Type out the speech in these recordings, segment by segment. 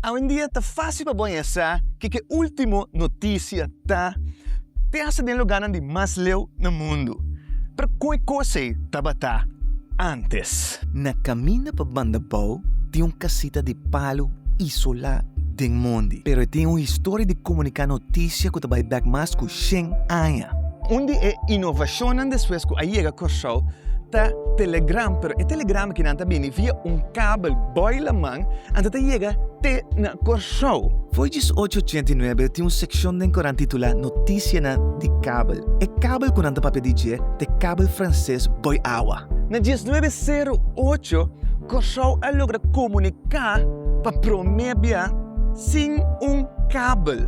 Awendia ta fásil pa boña sa kiko e último notisia ta, te hasta den lugánan di mas leu na mundu. Pero kon e kos'ey tabata ántes? Na kaminda pa banda bou tin un kasita di palu isolá den mondi, pero e tin un historia di komuniká notisia ku ta bai bèk mas ku shen aña. Un di e inovashonnan despues ku a yega Kòrsou ta telegram, pero e telegram aki nan ta bini via un kabel bòi laman anta ta yega te na Kòrsou. Fo'i djis ocho ochenta i nuebe tin un sekshon den koran titulá Notisianan di kabel. E kabel ku nan ta papia di dje ta e kabel franses bòi awa. Na djis nuebe seru ocho, Kòrsou a logra komuniká pa promé bia sin un kabel.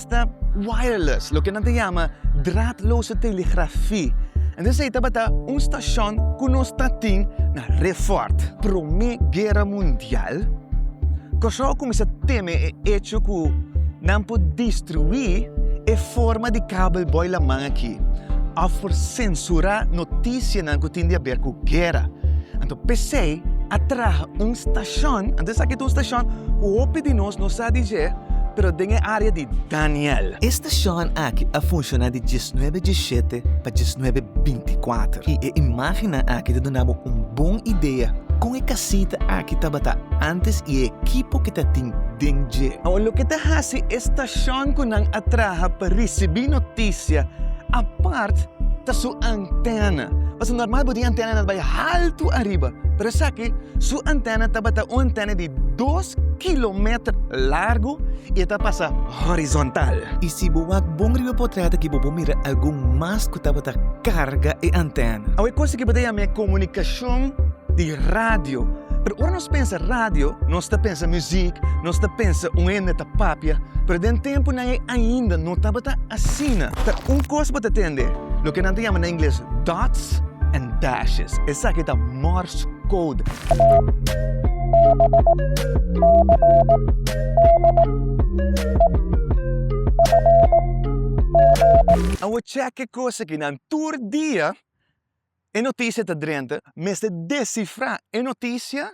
ta wireless, loke nan ta yama draadloze telegrafi. Entonces ei tabata un stashon ku nos ta tin na Refort. Promé Guera Mundial, Kòrsou a kuminsá teme e echo ku nan por destruí e forma di kabelbòi laman aki òf por sensurá notisianan ku tin di aber ku guera. Anto p'esei a traha un stashon, anto esaki ta un stashon ku hopi di nos no sa di dje. Pero den e área di Daniel. E stashon akí a funshoná di diesnuebe diesshete pa diesnuebe bintiakuater i e imágennan akí ta duna bo un bon idea kon e kasita akí tabata ántes i e ekipo ku ta tin den dje. Awa loke ta hasi e stashon ku nan a traha pa risibí notisia apart ta su antèna. Pasobra normal bo tin antènanan ta bai haltu ariba, pero esaki su antèna tabata un antèna di. Dos kilometer largu i e ta pasa horizontal. I si bo wak bon riba potret aki bo por mira algun mast ku tabata karga e antèna. Awe kos aki bo ta yama e komunikashon di radio. Pero ora nos pensa radio, nos ta pensa muzik, nos ta pensa un hende ta papia, pero den tempunan ei ainda no tabata asina. Ta un kos bo ta tende, loke nan ta yama na ingles dots and dashes, esaki ta Morse code. Awo cheque cos ekinan tur dia e noticia ta drenta mester descifra e noticia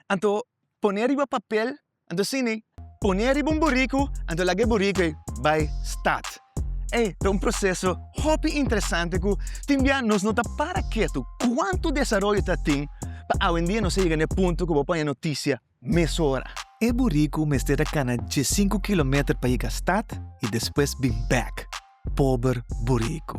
anto pone riba papel. Anto Sini, pone riba un buriku, anto laga e buriku ei bai stat. Ei ta un proseso hopi interesante ku tin bia nos no ta para ketu kuantu desaroyo ta tin pa awendia nos a yega na e punto ku bo paña notisia mesora. E buriku mester a kana diesinku kilometer pa yega stat i despues bin bèk. Pober buriku.